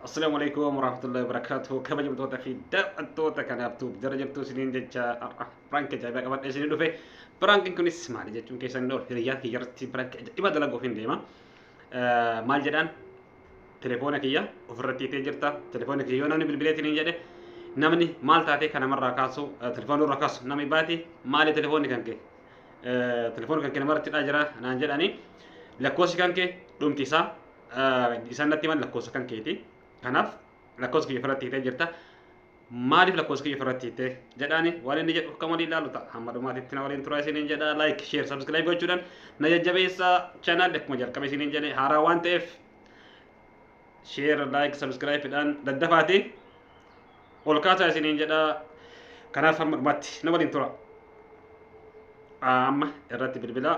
Assalamu alaikum warahmatullahi wabarakatuh. Kabajamtoota fi daawwattoota kanaaf tuuf jara jirtu isiniin jecha har'a piraank ajaa'ibaa qabadhe isinii dhufe. Piraankiin kunis maali jechuun keessan ol hiriyaa kiyya irratti piraank ajaa'iba dalaguuf hin deema. Maal jedhaan telefoona kiyya ofirratti itee jirta. Telefoona kiyya yoo namni bilbileetiin hin jedhe namni maal taatee kan namarraa kaasu telefoona irraa kaasu namni baati maali telefoonni kan kee telefoona kan kee namarratti dhaa jira naan jedhanii lakkoofsi kan kee dhumti isaa isaan natti himan lakkoofsa kan keeti. Kanaaf lakkoofsa kiyya ofirratti hiitee jirta. Maaliif lakkoofsa kiyya ofirratti hiitee jedhaani waan inni jedhu kan waliin ilaalu ta'a. Hamma dhumaatitti na waliin turaa isiniin jedha. Like, share, subscribe gochuudhaan na jajjabeessa. Channel akkuma jalqabe isiniin jedhe haaraa waan ta'eef share, like, subscribe dhaan daddafaati. Ol kaasaa isiniin jedha. Kanaaf hamma dhumaatti na waliin tura. Amma irratti bilbilaa.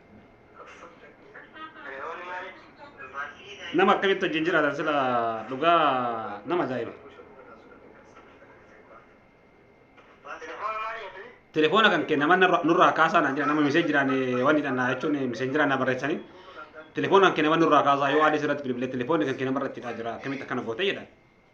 nama akkamitti wajjin jiraatan sila dhugaa nama ajaa'iba. Telefoona kan kee nama narra- nurraa kaasaa naan jedha nama misee jiraan waan hidhannaa jechuun misee jiraan na barreessanii telefoona kan kee nama nurraa kaasaa yoo aadee sirratti bilbilee telefoonni kan kee nama irratti hidhaa jira akkamitti akkana gootee jedhan.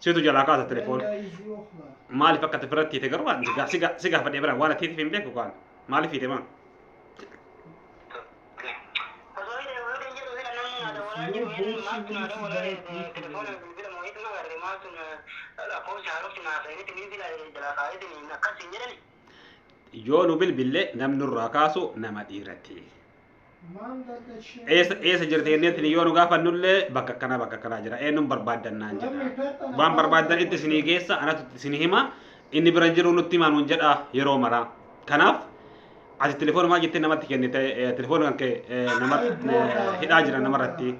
Siitu jalaa kaasa telefoona. Maaliif akka ati biratti hiite garuu ani si ga- si gaafadhee bira waan ati hiiteef hin beeku kaan. Maaliif hiite maa? Yoo nu bilbille namni nurraa kaasu nama dhiirati. eessa eessa jirti jenneetti yoo nu gaafannullee bakka akkanaa bakka akkanaa jira eenyuun barbaaddannaan jedha waan barbaaddan itti isinii geessa anatu itti isinii hima inni bira hin jiru nutti himaa nuun jedha yeroo maraa kanaaf ati telefoona maal jettee namatti kennite telefoona kan kee nama hidhaa jira namarratti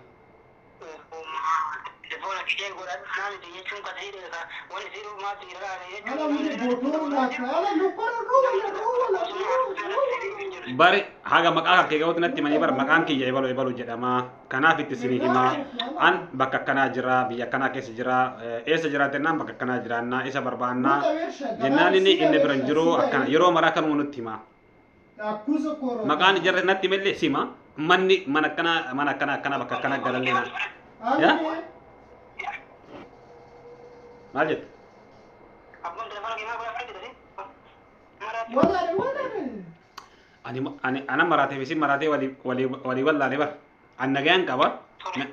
bari haga maqaa kan kee ga'uutti natti himanii bara maqaan kiyya ebalu ebalu jedhama kanaaf itti isinii himaa an bakka akkanaa jira biyya akkanaa keessa jira eh, eessa jiraata jennaan bakka akkanaa jiraannaa isa barbaannaa jennaan inni inni biran jiru akkana yeroo maraa kanuma nutti himaa Akkuusa kooroo. Maqaan jarri natti millee sima. Manni mana akkana mana akkana akkana bakka akkana galallee na. Ya? Maal jettu? Walaale walaale. Ani ani ana maraatee fi si maraatee walii walii walii wallaalee bara. An nagayaan qaba. Na-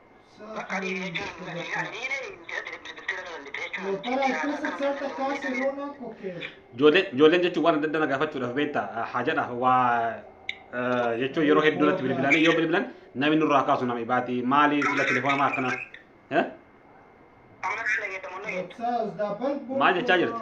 Ijoollee ijoolleen jechuun waan adda addaa na gaafachuudhaaf beektaa eh, haajadhaaf waa eh, jechuun yeroo hedduu natti bilbilanii yoo bilbilan namni nurraa kaasu nama ibaati maali sila telefoona maa akkana eh? maal jechaa jirti?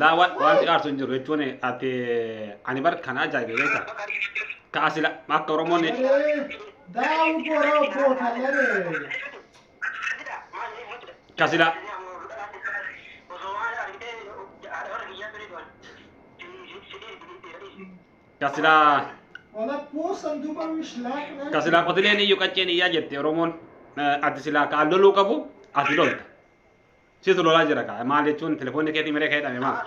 laa waan wanti aarsu hin jiru jechuun ati ani bar kan ajaa'ibe beekta ka asila akka oromoon ka sila Ka silaa Walakkuun sanduuqa mishlaaqnaa. ka silaa qotileen iyyuu qacceen iyyaa jette Oromoon eh, ati silaa ka al loluu qabu ati lolta. Situ lolaa jira ka maal jechuun telefoonni keetii miree kee hidhame maal?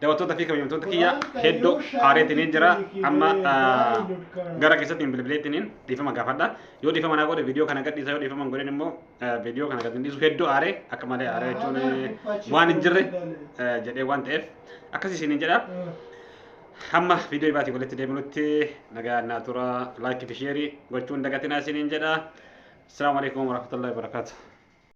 Daawwattoota fi kabajamtoota kiyya hedduu haareetiniin jira. Amma gara keessatti hin bilbileettiniin dhiifama gaafadha. Yoo dhiifama naa godhe viidiyoo kana gadhiisa yoo dhiifama hin godhin immoo viidiyoo kana gad hin dhiisu hedduu aaree akka malee aaree jechuun waan hin jirre jedhee waan ta'eef akkasii isiniin jedha. Hamma viidiyoo ibaatii walitti deebinutti nagaa naa tura laayikii fi sheerii gochuun dagatinaa isiniin jedha. Asalaamu alaikum warahmatullahi wabarakatuh.